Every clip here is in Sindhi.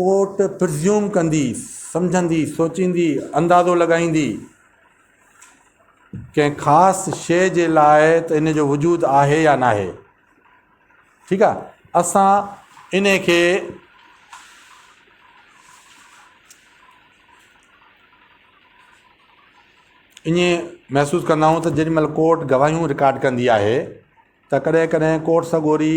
ڪورٽ پرزيوم ڪندي، سمجهندي، سوچيندي، اندازو لڳائيندي ڪنهن خاص شيء جي لاء ته ان جو وجود آهي يا ناهي. ٺيڪ آهي. اسان ان کي ائين محسوس ڪندا آهيون ته جيڏي مهل ڪورٽ گواهيون رڪارڊ ڪندي آهي ته ڪڏهن ڪڏهن ڪورٽ سڳوري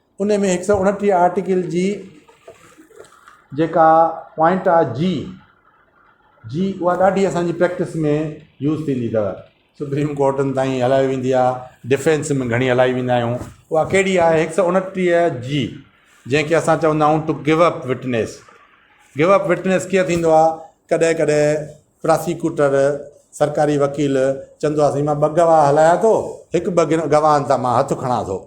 ان ۾ هڪ سؤ اڻٽيهه آرٽيڪل جي جيڪا پوائنٽ آ جي جي اها ڏاڍي اسانجي پريڪٽس ۾ يوز ٿيندي اٿو سپريم ڪورٽن تائين هلائي ويندي آ ڊفينس ۾ گهڻي هلائي ويندا آهيون اها ڪهڙي آ هڪ سؤ اڻٽيهه جي جنهنکي اسان چوندا آهيون to give up witness give up witness ڪيئن ٿيندو آ ڪڏهن ڪڏهن پراسيڪوٽر سرڪاري وڪيل چوندو آ سائين مان ٻه گواهه هلايا ٿو هڪ ٻه گواهن تان مان هٿ کڻا ٿو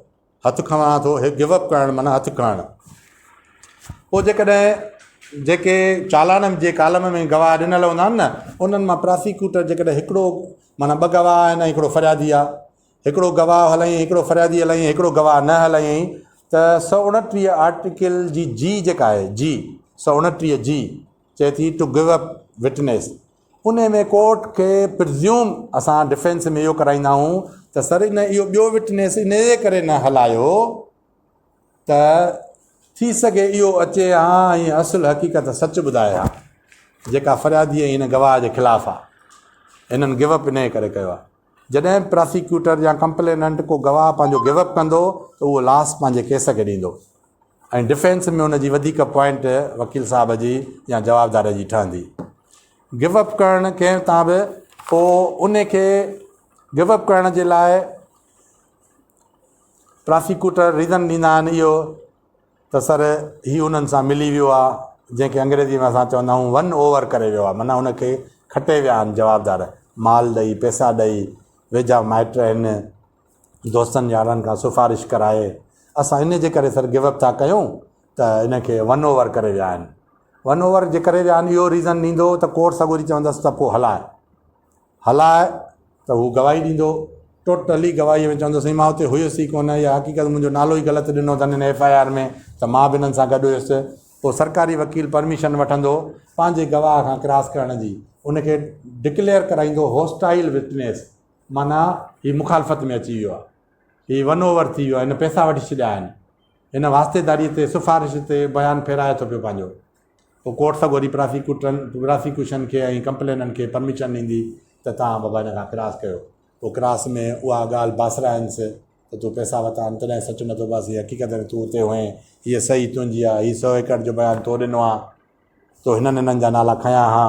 هٿ کنوان ٿو هي گو اپ ڪرڻ معنيٰ هٿ کڻڻ پوء جيڪڏهن جيڪي چالان جي ڪالم ۾ گواهه ڏنل هوندا آهن نه انهن مان پراسيڪيوٽر جيڪڏهن هڪڙو معنيٰ ٻه گواهه آهن هڪڙو فريادي آهي هڪڙو گواهه هلائين هڪڙو فريادي هلائين هڪڙو گواهه نه هلائين ته سؤ اڻٽيهه آرٽيڪل جي جي جيڪا آهي جي سؤ اڻٽيهه جي چئي ٿي ٽو گو اپ وٽنيس انهي ۾ ڪورٽ کي پرزيوم اسان ڊفينس ۾ اهو ڪرائيندا آهون ته سر ان اهو ٻيو وٽنيس انهي ڪري نه هلايو ته ٿي سگهي اهو اچي ها ۽ اصل حقيقت سچ ٻڌائي ها جيڪا فريادي ۽ هن گواهه جي خلاف آهي هنن گو اپ انهي ڪري ڪيو آهي جڏهن به پراسيڪيوٽر يا ڪمپليننٽ ڪو گواهه پنهنجو گيو اپ ڪندو ته اهو لاس پنهنجي ڪيس کي ڏيندو ۽ ڊفينس ۾ ان جي وڌيڪ پوائنٽ وڪيل صاحب جي يا جوابدار جي ٺهندي. گيو اپ ڪرڻ ڪنهن تان به پوء ان کي گيو اپ ڪرڻ جي لاء پراسيڪيوٽر ريزن ڏيندا آهن اهو ته سر هي انهن سان ملي ويو آ جنهن کي انگريزي ۾ اسان چوندا آهيون ون اوور ڪري ويو آ معنيٰ ان کي کٽي ويا آهن جوابدار مال ڏئي پئسا ڏئي ويجها مائٽ هن دوستن يارن کان سفارش ڪرائي اسان ان جي ڪري سر گو اپ ٿا ڪيون ته ان کي ون اوور ڪري ويا آهن ون اوور جي ڪري ويا آهن اهو ريزن ڏيندو ته ڪورٽ سڳوري چوندس ته پوء هلاء هلاء ته هو گواهي ڏيندو. ٽوٽلي گواهيء ۾ چوندو، سائين مان اتي هيس ئي ڪونه، اها حقيقت منهنجو نالو ئي غلط ڏنو اٿن هن ايف آء آر ۾ ته مان به هنن سان گڏ هيس. پوء سرڪاري وڪيل پرميشن وٺندو پنهنجي گواهه کان ڪراس ڪرڻ جي، ان کي ڊڪليئر ڪرائيندو هوسٽائيل وٽنيس معنيٰ هي مخالفت ۾ اچي ويو آهي، هي ون اوور ٿي ويو آهي، هن پئسا وٺي ڇڏيا آهن. هن واسطيداريء تي، سفارش تي بيان ڦيرائي ٿو پيو پنهنجو. پوء ڪورٽ سگهو ڏينهن پراسيڪيوٽرن، پراسيڪيوشن، کي ۽ ڪمپليننٽ کي پرميشن ڏيندي ته توهان بابا هن کان ڪراس ڪيو. پوء ڪراس ۾ اها ڳالهه باسرائينس ته تون پئسا ورتا آهن تڏهن سچ نه ٿو بس هي حقيقت آهي ته تون اتي هئين، هيء صحيح تنهنجي آهي، هي سؤ ايڪڙ جو بيان تو ڏنو آهي، تو هنن هنن جا نالا کنيا ها.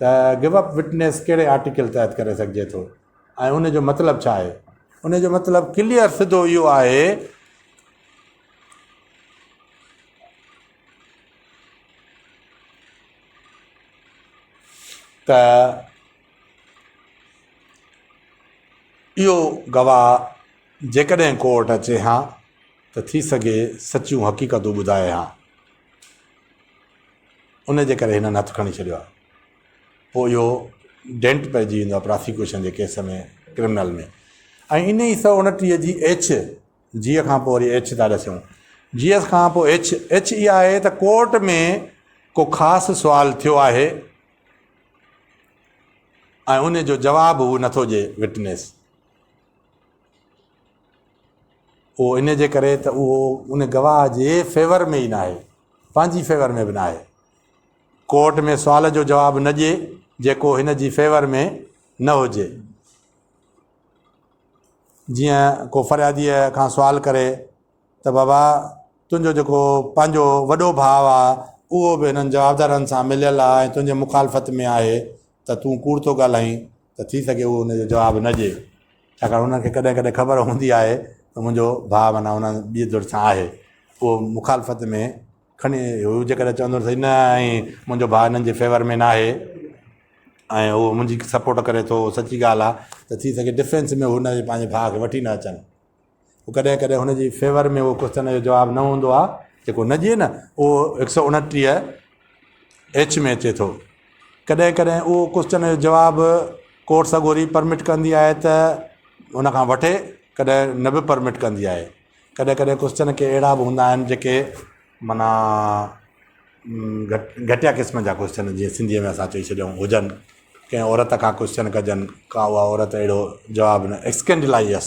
ته گو اپ وٽنيس ڪهڙي آرٽيڪل تحت ڪري سگهجي ٿو ۽ ان جو مطلب ڇا آهي ان جو مطلب ڪليئر سڌو اهو آهي ته اهو گواهه جيڪڏهن ڪورٽ اچي ها ته ٿي سگهي سچيون حقيقتون ٻڌائي ها ان جي ڪري هنن هٿ کڻي ڇڏيو آهي پوء اهو ڊينٽ پئجي ويندو آهي پراسيڪيوشن جي ڪيس ۾ ڪرمنل ۾ ۽ ان ئي سؤ انٽيهه جي ايڇ جيء کان پوء وري ايڇ ٿا ڏسيون جيء کان پوء ايڇ ايڇ اها آهي ته ڪورٽ ۾ ڪو خاص سوال ٿيو آهي ۽ ان جو جواب هو نٿو ڏي وٽنيس اهو ان جي ڪري ته اهو ان گواهه جي فيور ۾ ئي ناهي، پنهنجي فيور ۾ به ناهي. ڪورٽ ۾ سوال جو جواب نه ڏئي جيڪو هن جي فيور ۾ نه هجي. جيئن ڪو فرياديء کان سوال ڪري ته بابا تنهنجو جيڪو پنهنجو وڏو ڀاء آ اهو به هنن جوابدارن سان مليل آ ۽ تنهنجي مخالفت ۾ آهي ته تون ڪوڙ ٿو ڳالهائين ته ٿي سگهي هو ان جو جواب نه ڏئي ڇاڪاڻ هنن کي ڪڏهن ڪڏهن خبر هوندي آهي ته منهنجو ڀاء معنيٰ هن ٻي ڌر سان آهي اهو مخالفت ۾ کڻي هو جيڪڏهن چوندو سهي نه ائين منهنجو ڀاء هنن جي فيور ۾ ناهي ۽ هو منهنجي سپورٽ ڪري ٿو سچي ڳالهه آهي ته ٿي سگهي ڊفينس ۾ هو هن جي پنهنجي ڀاء کي وٺي نه اچن پوء ڪڏهن ڪڏهن هن جي فيور ۾ اهو ڪوشچن جو جواب نه هوندو آهي جيڪو نه جيئي نه اهو هڪ سؤ انٽيهه ايڇ ۾ اچي ٿو. ڪڏهن ڪڏهن اهو ڪوشچن جو جواب ڪورٽ سڳوري پرمٽ ڪندي آهي ته ان کان وٺي ڪڏهن نه به پرمٽ ڪندي آهي. ڪڏهن ڪڏهن ڪوشچن ڪي اهڙا به هوندا آهن جيڪي معنيٰ گهٽ گهٽيا قسم جا ڪوشچن جيئن سنڌيء ۾ اسان چئي ڇڏيون هجن ڪنهن عورت کان ڪوشچن ڪجن ڪا اها عورت اهڙو جواب نه اسڪينڊلائيس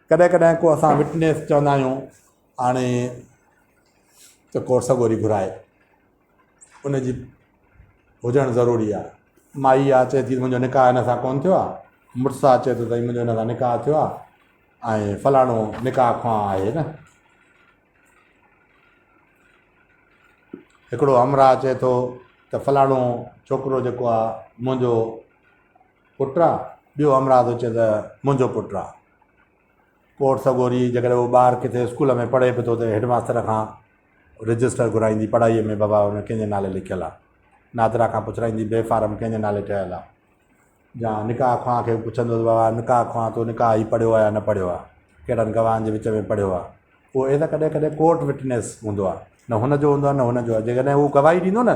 ڪڏهن ڪڏهن ڪو اسان وٽنيس چوندا آهيون آڻي ته ڪو سڳوري گهرائي ان جي هجڻ ضروري آهي مائي آ چي ٿي منهنجو نڪاح هن سان ڪون ٿيو آهي مڙس آ چي ٿو سائين منهنجو هن سان نڪاح ٿيو آهي ۽ فلاڻو نڪاح خواه آهي نه هڪڙو همراهه چي ٿو ته فلاڻو ڇوڪرو جيڪو آهي منهنجو پٽ آ ٻيو همراهه ٿو چئي ته منهنجو پٽ آ ڪورٽ سڳوري جيڪڏهن هو ٻاهر ڪٿي اسڪول ۾ پڙهي به ٿو ته هيڊ ماستر کان رجسٽر گهرائيندي پڙهائي ۾ بابا هن ڪنهن جي نالي لکيل آ نادرا کان پڇرائيندي بي فارم ڪنهن جي نالي ٺهيل آ جا نڪاح خواهان کي پڇندو ته بابا نڪاح خواهان تو نڪاح هي پڙهيو آ يا نه پڙهيو آ ڪهڙن گواهن جي وچ ۾ پڙهيو آ هو ايز ا ڪڏهن ڪڏهن ڪورٽ وٽنيس هوندو آ نه هن جو هوندو آ نه هن جو آ جيڪڏهن هو گواهي ڏيندو نه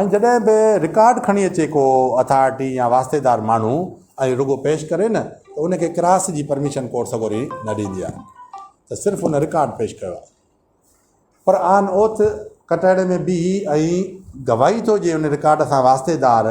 ۽ جڏهن به رڪارڊ کڻي اچي ڪو اٿارٽي يا واسطيدار ماڻهو ۽ رڳو پيش ڪري نه ته ان کي ڪراس جي پرميشن ڪورٽ سڳوري نه ڏيندي آهي ته صرف ان رڪارڊ پيش ڪيو آهي پر آن اوٿ ڪٽهڙي ۾ بيهي ۽ گواهي ٿو ڏي ان رڪارڊ سان واسطيدار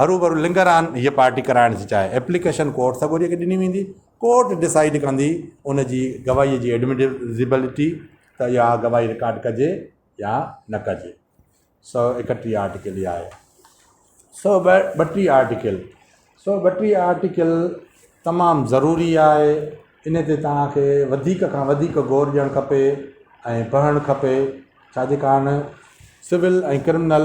هروڀرو لنگران هيء پارٽي ڪرائڻ ٿي چاهي، ايپليڪيشن ڪورٽ سڳوري کي ڏني ويندي، ڪورٽ ڊسائيڊ ڪندي ان جي گواهيء جي ايڊمٽيبلٽي ته اها گواهي رڪارڊ ڪجي يا نه ڪجي. سؤ ايڪٽيهه آرٽيڪل اها آهي. سؤ ٻٽيهه آرٽيڪل، سؤ ٻٽيهه آرٽيڪل تمام ضروري آهي، ان تي توهان کي وڌيڪ کان وڌيڪ غور ڏيڻ کپي ۽ پڙهڻ کپي، ڇاجي ڪارڻ civil ۽ criminal,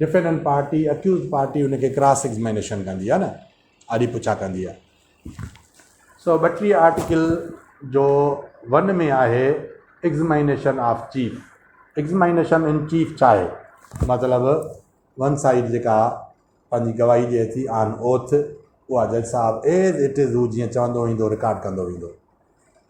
defendant party, accused party, ان کي ڪراس ايگزمينيشن ڪندي آهي نه آڏي پڇا ڪندي آهي. سؤ ٻٽيهه آرٽيڪل جو ون ۾ آهي examination of chief, examination in chief ڇا آهي؟ مطلب ون سائيڊ جيڪا پنهنجي گواهي ڏئي ٿي آن اوٿ اها جج صاحب ايز اٽ از هو جيئن چوندو ويندو رڪارڊ ڪندو ويندو.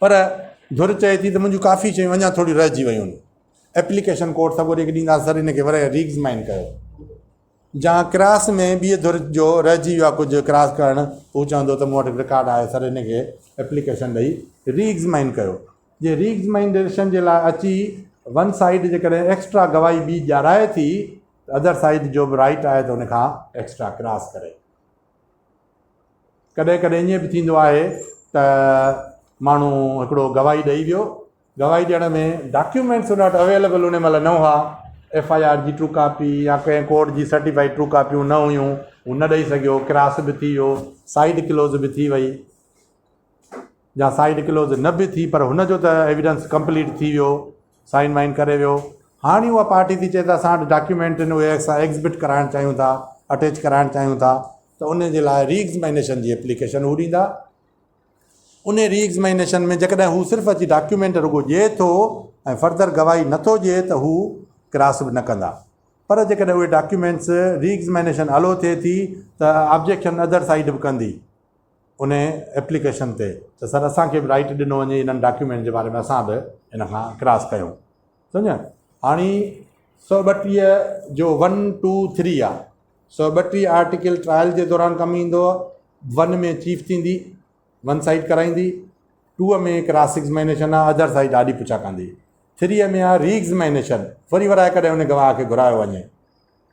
پر ڌر چئي ٿي ته منهنجون ڪافي شيون اڃا ٿوريون رهجي ويون آهن. ايپليڪيشن ڪوڊ سڳو ريگ ڏيندا سر ان کي ورهيه ريگز مائن ڪيو. جهان ڪراس ۾ ٻيء ڌر جو رهجي ويو آهي ڪجهه ڪراس ڪرڻ، هو چوندو ته مون وٽ رڪارڊ آهي سر ان کي ايپليڪيشن ڏئي ريگز مائن ڪيو. جي ريگز مائن ڊيريشن جي لاء اچي ون سائيڊ جيڪڏهن ايڪسٽرا گواهي ٻي ڏيارائي ٿي ته اڌر سائيڊ جو به رائيٽ آهي ته ان کان ايڪسٽرا ڪراس ڪري. ڪڏهن ڪڏهن ائين به ٿيندو آهي ته ماڻهو هڪڙو گواهي ڏئي ويو گواهي ڏيڻ ۾ ڊاڪيومينٽس ان وٽ اويليبل ان مهل نه هئا ايف آء آر جي ٽرو ڪاپي يا ڪنهن ڪورٽ جي سرٽيفائيڊ ٽرو ڪاپيون نه هيون هو نه ڏئي سگهيو ڪراس به ٿي ويو سائيڊ ڪلوز به ٿي وئي جا سائن ڪلوز نه به ٿي پر هن جو ته ايويڊنس ڪمپليٽ ٿي ويو سائن وائن ڪري ويو هاڻي اها پارٽي ٿي چئي ته اسان وٽ ڊاڪيومينٽ آهن اهي اسان ايگزبٽ ڪرائڻ چاهيون ٿا اٽيچ ڪرائڻ چاهيون ٿا ته ان جي لاء ري ايگزمينيشن جي اپليڪيشن هو ڏيندا ان ري ايگزمينيشن ۾ جيڪڏهن هو صرف اچي ڊاڪيومينٽ رڳو ڏئي ٿو ۽ فردر گواهي نٿو ڏئي ته هو ڪراس به نه ڪندا پر جيڪڏهن اهي ڊاڪيومينٽس ري ايگزمينيشن الو ٿئي ٿي ته آبجيڪشن ادر سائيڊ به ڪندي انهي ايپليڪيشن تي ته سر اسان کي به رائيٽ ڏنو وڃي انهن ڊاڪيومينٽ جي باري ۾ اسان به ان کان ڪراس ڪيون سمجهيا هاڻي سؤ ٻٽيهه جو ون ٽو ٿري آ سؤ ٻٽيهه آرٽيڪل ٽرائل جي دوران ڪم ايندو ون ۾ چيف ٿيندي ون سائيڊ ڪرائيندي ٽوء ۾ ڪراس ايگزمينيشن آ ادر سائيڊ آڏي پڇا ڪندي ٿريء ۾ آ ري ايگزمينيشن وري وراء ڪڏهن ان گواهه کي گهرايو وڃي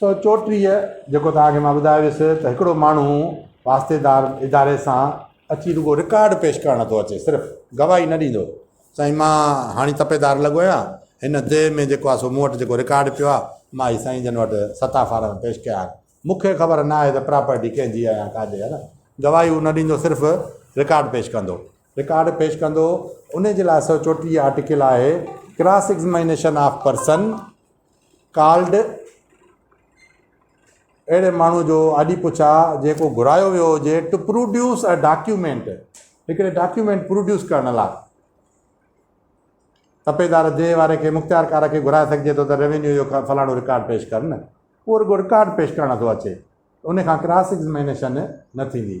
سو چوٽيهه جيڪو توهان کي مان ٻڌايو هيس ته هڪڙو ماڻهو واسطيدار اداري سان اچي رڳو رڪارڊ پيش ڪرڻ ٿو اچي صرف گواهي نه ڏيندو سائين مان هاڻي تپيدار لڳو آهيان هن ديهه ۾ جيڪو آهي سو مون وٽ جيڪو رڪارڊ پيو آهي مان هي سائين جن وٽ ستا فارم پيش ڪيا آهن مون کي خبر نه آهي ته پراپرٽي ڪنهن جي آهي يا ڪا جي آهي نه گواهي هو نه ڏيندو صرف رڪارڊ پيش ڪندو رڪارڊ پيش ڪندو انهي جي لاء سؤ چوٽيهه آرٽيڪل آهي cross examination of person called اهڙي ماڻهو جو آڏي پڇا جيڪو گهرايو ويو هجي ٽو پروڊيوس ا ڊاڪيومينٽ هڪڙي ڊاڪيومينٽ پروڊيوس ڪرڻ لاء تپيدار دي واري کي مختيارڪار کي گهرائي سگهجي ٿو ته ريونيو جو فلاڻو رڪارڊ پيش ڪر نه اهو رڪارڊ پيش ڪرڻ ٿو اچي ان کان ڪراس ايگزمينيشن نه ٿيندي